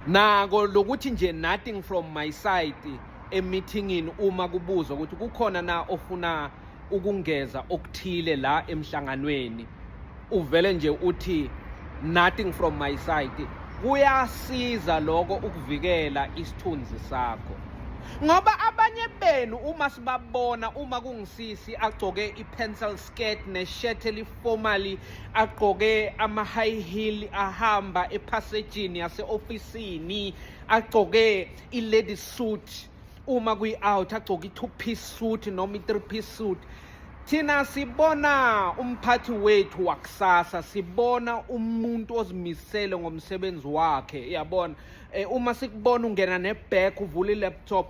nako lokuthi nje nothing from my side emithingini uma kubuzwa ukuthi kukhona na ofuna ukungeza okuthile la emhlanganweni uvele nje uthi nothing from my side kuyasiza lokho ukuvikela isithunzi sakho ngoba abanye benu uma sibabona uma kungisisi agcoke i-pencil skirt ne-shirt formally agqoke ama-high heel ahamba ephasejini yase-ofisini agqoke i-lady suit uma kwi-out agcoke i-two piece suit noma i-three piece suit thina sibona umphathi wethu wakusasa sibona umuntu ozimisele ngomsebenzi wakhe yabona eh, uma sikubona ungena ne-back uvula i-laptop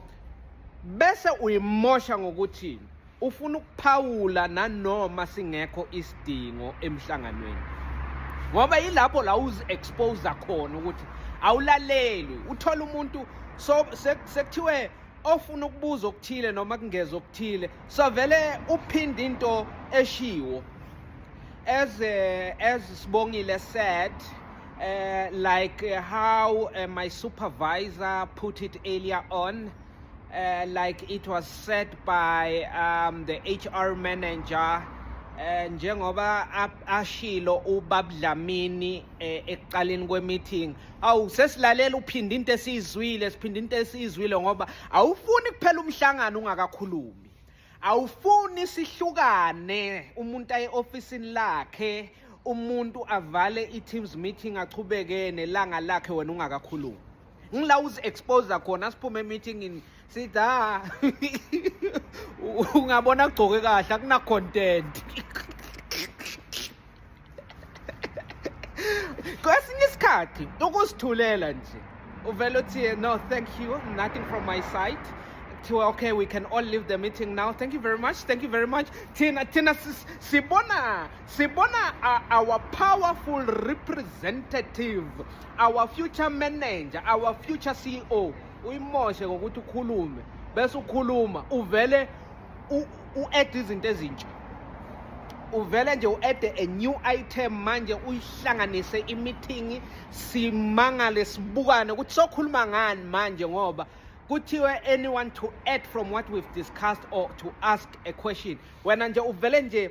bese uyimosha ngokuthini Ufuna ukuphawula nanoma singekho isidingo emhlanganweni. Ngoba yilapho la uzi expose khona ukuthi awulaleli, uthola umuntu so sekuthiwe ofuna ukubuza okuthile noma kungeza okuthile so vele uphinde into eshiwo as uh, as Sibongile said uh, like how uh, my supervisor put it earlier on Uh, like it was said by um, the HR manager eh njengoba ashilo ubabdlamini eh, ekuqaleni kwemeeting awu sesilalela uphinda into esizwile siphinda into esizwile ngoba awufuni kuphela umhlangano ungakakhulumi awufuni sihlukane umuntu aye officeini lakhe umuntu avale i-teams meeting achubekene langa lakhe wena ungakakhulumi ngila uzi-exposa khona siphume emeetingini sithi ha ah, ungabona agcoke kahle akunacontent kwesinye isikhathi ukusithulela nje uvele uthi no thank you nothing from my side to okay we can all leave the meeting now thank you very much thank you very much thina thina sibona Sibona uh, our powerful representative, our future manager, our future CEO uyimoshe ngokuthi ukhulume bese ukhuluma uvele u-add izinto ezintsha uvele nje u-add a new item manje uyihlanganise imithingi simangale sibukane ukuthi sokhuluma ngani manje ngoba kuthiwe anyone to add from what we've discussed or to ask a question wena nje uvele nje